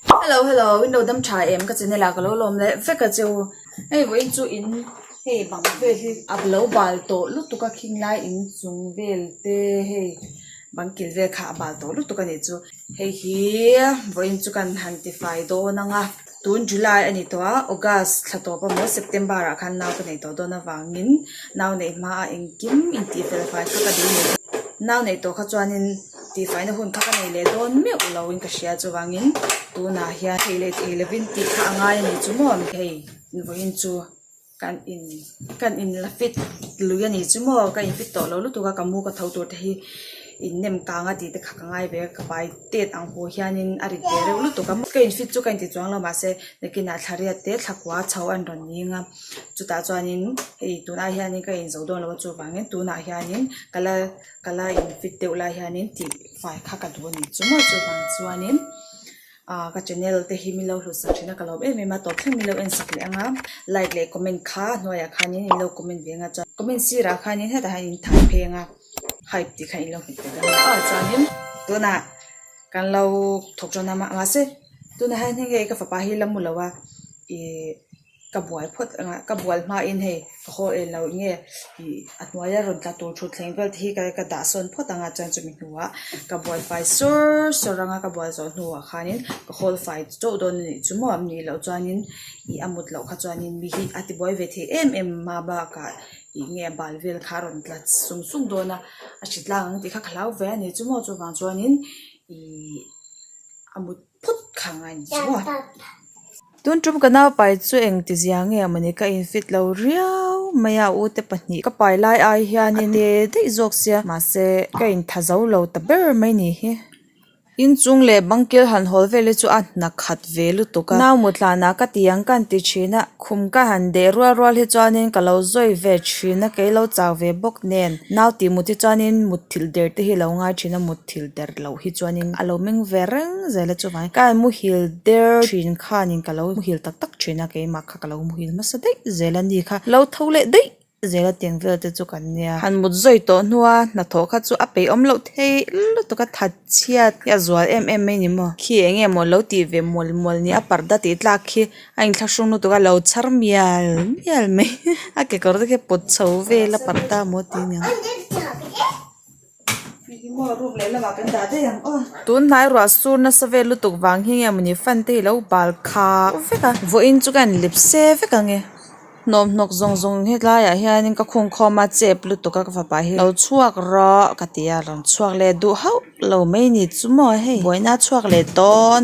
Hello hello window dam tha em ka channel ah ka lo lawm leh vek a chu hei vawh in chu in hei bang vel hi a lo bal tawh lutuk a khing lai in chung vel te hei bang kil vel kha a bal tawh lutuk a ni chu hei hi vawh in chu kan han ti fai dawn ang a tun july a ni tawh a august thla tawp amaw september ah khan nau ka nei tawh dawn avang in nau nei hma ah engkim in tih fel fai kha ka ding a ni bawk nau nei tawh kha chuan in. tihfaihnna hun kha ka nei leh dawn meuh loin ka hria chuvangin tunah hian thei leh thei lovin tih kha a ngai a ni chu maw ni thei vawiin chu kan in kan in la fit lui a ni chu maw ka in fit tawh lo lutuk a ka mu ka tho tur te hi innem kang a tih te kha ka ngai ve a ka pai tet ang pawh hianin a rit ve reuh lutuk a ka in fit chu ka inti chuang lo mahse nakinah thla riat te thla kua chho a ni rawn ni ang a chutah chuanin hei tunah hianin ka inzo dawn lo a chuvangin tunah hianin ka la. ka la infit deuh lai hianin tihfai kha ka duh a nih chu maw chuvang chuanin ahh ka channel te hi min lo hlusak thin a ka lawm em em a tawp thleng min lo en sak leh ang a like leh comment kha a hnuaiah khanin in lo comment ve ang a chuan comment sirah khanin hetah hian in thai phei ang a hype tih kha in lo hmu tel ang a chuanin tunah kan lo thawk tawn a mahse tunah hian heng e ka fapa hi la mu lo a ihh. Ka buai phawt engah ka bual hmain hei ka haw reh loh nge ih a hnuaia rawn tla tur thutthleng vel te hi ka ka dah sawn phawt anga chuan chumi hnuah ka bual fai sawr sawr anga ka bual zawh hnuah khanin ka hawl fai chauh dawn a nih chu maw nih loh chuanin ih a mut loh kha chuanin mi hi a ti buai ve thei em em a bakah ih nge a bal vel kha a rawn tla sung sung dawn a a hritlang ang tih kha ka hlau ve a nih chu maw chuvang chuanin ih a mut-- phut kha ngai ni chu a. Tun ṭum ka naupai chu eng tizia nge mawni ka infit lo riau mai a u te pahnih ka pai lai ai hian a ti daih zawk sia mahse ka intha zo lo ta ber mai ni hi. Inchung leh bangkil han hawl vele chu a hna khat ve lutuk a, nau mutlan ah ka ti ang kan ti ṭhin a, khum ka han deh rual rual hi chuanin ka lo zawi ve ṭhin a, kei lo chak ve bawk nen nau tih mut hi chuanin mut thilh der te hi lo ngai ṭhin a, mut. thil der loh hi chuanin a lo meng ve reng zela chuvangin ka muhil der thin khanin ka lo muhil tak tak thin a keimah kha ka lo muhil hmasa daih zel a ni kha a lo tho leh daih zel a tiang vel te chu kan nia han mut zawih tawh hnuah a hnathawh kha chu a peih awm loh thei lutuk a that chhiat i a zual em em mai ni maw khi eng nge maw lo tih ve mual mual nia parda tih tlak khi a in thlak hrung lutuk a lo chhar mial mial mai a kekawr te khi a pawt chho vel a parda maw tih nia. tunhnai ruahsur nasa vel lutuk vang hi nge mawni fan te hi lo bal khau vek a vawiin chu ka en lip se vek ang e hnawhnawk zawng zawng he tlaiah hianin ka khung khawm a chep lutuk a ka fapa hi lo chhuak rawh ka ti a rawn chhuak let duh hauh lo mai ni chu maw hei buaina chhuak leh dawn.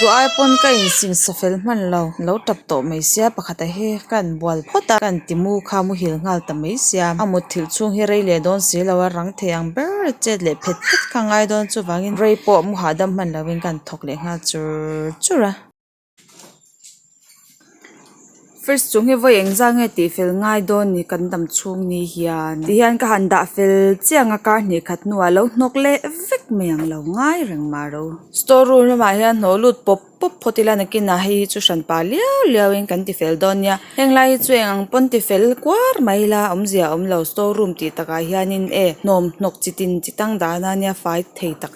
duhai pawn ka insinsa fel hman lo lo tap tawh mai sia pakhat ah hi ka rawn bual phawt a ka rawn ti mu kha muhil nghal ta mai sia a mut thilh chhung hi rei leh dawn si lo a rang thei ang ber a chet leh phet phet kha ngai dawn chuvang in rei pawh mu hahdam hman lo in ka rawn thawk leh nghal chur chur a. fridge chung hi vawi eng zang nge tih fel ngai dawn ni kan dam chhung ni hian tih hian ka han dah fel chiang a kar hnih khat hnuah a lo hnawk leh vek mai ang lo ngai reng mah ro store room lamah hian hnawh lut pawp pawp phawt ila nakinah hei hi chu hran pa liau liau in kan ti fel dawn nia heng lai hi chu eng ang pawn ti fel kuar mai ila awm zia awm lo store room tih takah hian in e hnawm hnawk chi tin chi tang dan ania fai thei tak--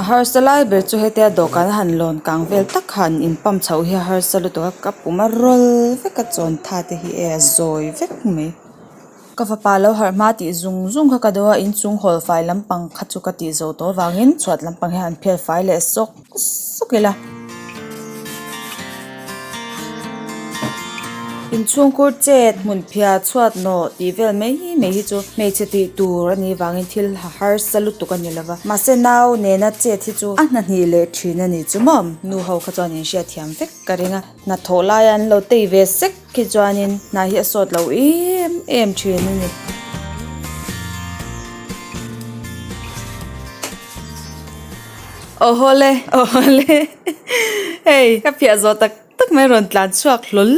A harsa lai ber chu hete a dawhkan a han lawn kang vel tak kha an in pump chhoh hi a harsa lutuk a ka puma rawl vek a chawn tha te hi e a zawi vek mai ka fapa lo harh hma tih zung zung kha ka duh a inchhung hall fai lampang kha chu ka tih zo tawh vangin chhuat lampang hian an phel fai leh sawk. suk ila. Inchhungkhur chet hmun phia chhuat naw tih vel mai mai hi chu hmeichhe tih tur a nih vangin thil a harsa lutuk a ni lova mahse nau nena chet hi chu a hnahnih leh thin a ni chu mawm? Nu ho kha chuan in hriatthiam vek ka ring a. Hna thawh laia an lo tei ve sek khi chuanin hna hi a sawt loh em em thin a ni. Awhaw le awhaw le hei ka phiah zawh tak tak mai a rawn tlan chhuak hlawl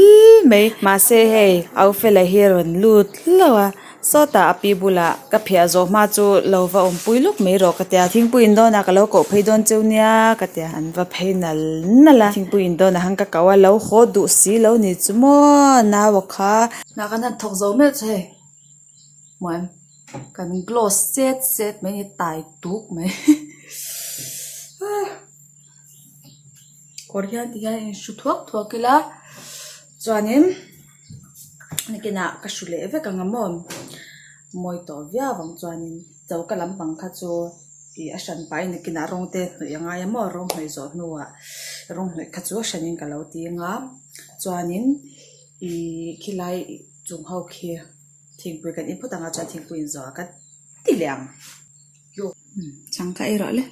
mai mahse hei Aufela hi a rawn lut hlauh a. Sawtah a pi bulah ka phiah zawh hma chu lo va awm pui lawk mai rawh ka ti a, thingpui in dawnah ka lo koh phei dawn cheu nia ka ti a, an va phei nal nal a, thingpui in dawnah han ka koh a, lo haw duh si lo ni chu maw nau a kha. Hna kan han thawk zo meuh chu hei hmuan kan glow set set mai a ni tai tuk mai kawr hian ti hian in hru thuak thuak ila chuanin. Nikinah ka hru leh vek ang a mawn mawi tawh viau ang chuanin cho ka lam pang kha chu ih a hran pahin Nikina rawng te hnawih a ngai a maw rawng hnawih zawh hnuah rawng hnawih kha chu a hranin ka lo ti ang a chuanin ihh khilai chung ho khi thingpui kan input angah chuan thingpui inzawha ka ti leh ang chhang kha erawh le.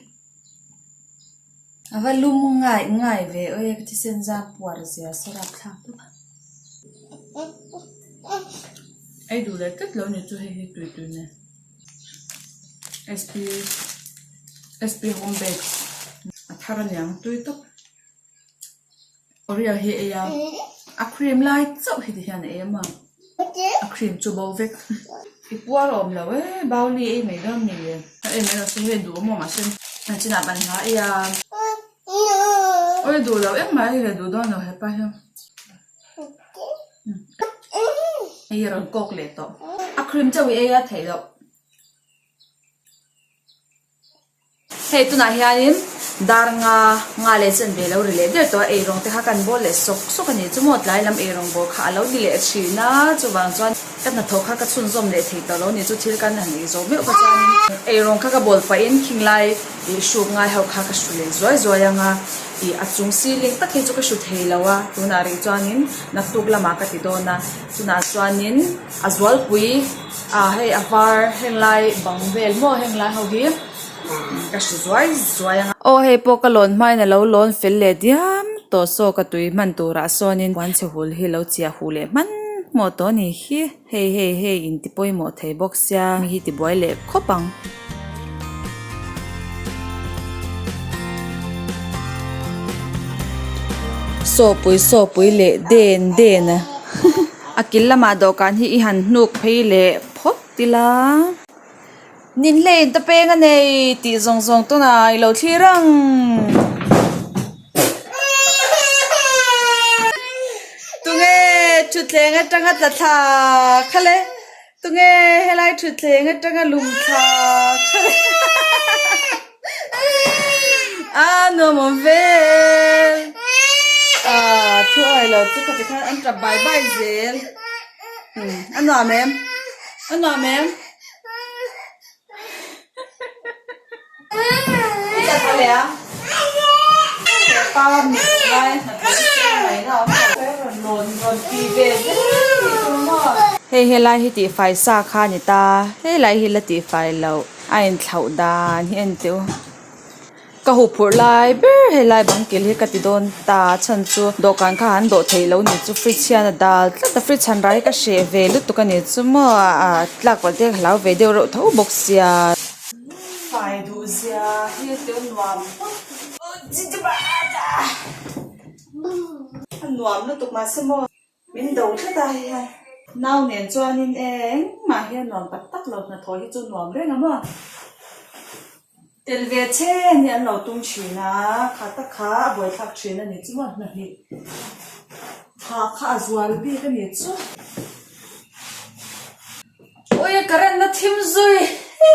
A va lum ngai ngai ve aw e ka ti se zan puar zia se rap thlak tawk a ei duh leh tlat lo ni chu hei hi tui tui nen a thar aniang tui tak. Korea hi ei a, a cream lai chauh heti hian a em a, a cream chu bo vek. I puar a awm lo e, Baoli ei mai dawn ni e. A ei mai lo se hi duh awm awm ah se a chin ah ban hnai a. Oi duh lo em mai le duh dawn lo hepa hian. Hei a rawn kawk leh tawh. A cream chauh i ei a theih loh. Hei tunah hianin dar nga nga leh chen ve lo ri leh der tawh a ei rawng te kha ka han bawl leh sawk sawk a ni chu maw tlai lam ei rawng bawl kha a lo ni leh thin a chuvang chuan ka hnathawh kha ka chhunzawm leh thei tawh lo ni chu thil kan han ei zo meuh kha chuan ei rawng kha ka bawl paih in khing lai ih hruk ngai ho kha ka hru leh zuai zuai ang a ih a chung ceiling tak hi chu ka hru thei lo a tunah rih chuan in naktuk lamah ka ti dawn a tunah chuan in a zualpui. Aaa hei a var heng lai bang vel maw heng lai ho hi ka hre zuai zuai ang a. Aw hei pawh ka lawn hmain a lo lawn fel leh diam tawh saw ka tui hman tur ah sawnin puan chhehul hi lo chhiah huh leh hman hmawh tawh a ni hi. Hei hei hei inti pawimawh thei bawk sia mi hi tibuai leh khawp ang. Sawhpui sawhpui leh den den a a kil lamah dawhkan hi i han hnuk phei leh phawt ila nin hlei in ta peng a nei tih zawng zawng tawna i lo thlir ang. Tunge thutthleng atanga tla thlaa kha le. Tunge helai thutthleng atanga lum thla kha leh a nuam awm vel ah thu aih lo chu kha tikhan an tap bai bai zel a nuam em a nuam em. Hei helai hi tihfai sa kha a ni ta, helai hi la tihfai loh, a intlhoh dan hi a ni teh u. Ka hu phurh lai ber helai bangkil hi ka ti dawn ta chhan chu dawhkan kha han dawh theih loh ni chu fridge hian a dal tlat a fridge chhan rah hi ka hreh ve lutuk a ni chu maw ah tlak pawlh te ka hlau ve deuh reuh tho bawk sia fai duh zia thil te awm nuam hmang a nuam lutuk mahse maw. Min do tlat a hei hian. Nau nen chuanin e eng mah hian nuam tak tak lo hnathawh hi chu nuam reng a maw? Tel ve che nia an lo tum thin a, kha tak kha a buaithlak thin a ni chu maw? Hnahnih tha kha a zual bik a ni chu. Ui ka ren na thim zui hi.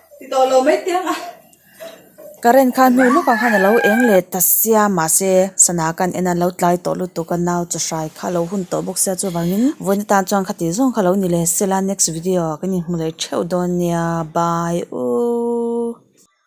Current khan hnu lawkah khan alo eng leh ta sia mahse sana kan en a lo tlai tawh lutuk a nau chi hrai kha alo hun tawh bawk sia chuvangin vawiin atan chuan khati zawng kha lo ni leh sela next video ah ka inhmu leh theuh dawn nia bye u.